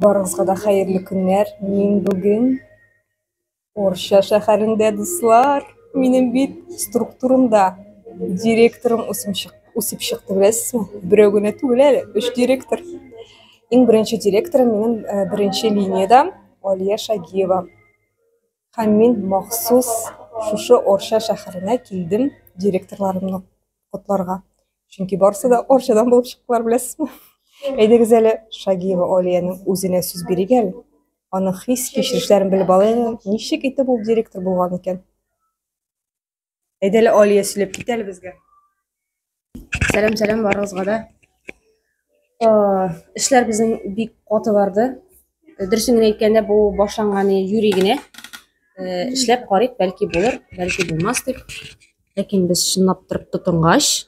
Барыгызга да хәерле көннәр. Мин бүген Орча шәһәрендә, дуслар. Минем бит структурымда директорым үсеп чык, үсеп чыкты, беләсезме? Берәү генә түгел әле, өч директор. Иң беренче директорым минем э, беренче линиядә Алия Шагиева. Һәм мин махсус шушы Орча шәһәренә килдем директорларымны котларга. Чөнки барысы да Орчадан булып чыктылар, беләсезме? Әйдәгез әле Шагиева Олиянең үзенә сүз бирик әле. Аның хис-кичерешләрен белеп алыйк, ничек итеп ул директор булган икән? Әйдә әле Алия сөйләп кит әле безгә. Сәлам, сәлам барыгызга да. Эшләр безнең бик каты барды. Э, Дөресен генә әйткәндә, бу башланганы юри генә. Э, эшләп карыйк, бәлки булыр, бәлки булмас дип. Ләкин без чынлап торып тотынгач,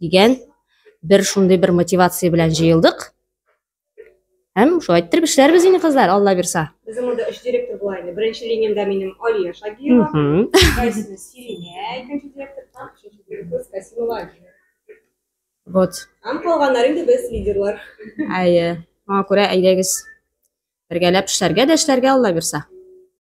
дигән бер шундый бер мотивация белән җыелдык. Һәм шулай иттереп эшләрбез инде кызлар, Алла бирса. Безнең монда өч директор була инде. Беренче линиядә минем Алия Шагиева, икенчесенә Сиринә, икенче директор, һәм өченче директор Касимова Алина. Вот. Һәм калганнар инде без лидерлар. Әйе. Моңа күрә әйдәгез. Бергәләп эшләргә дә эшләргә Алла бирса.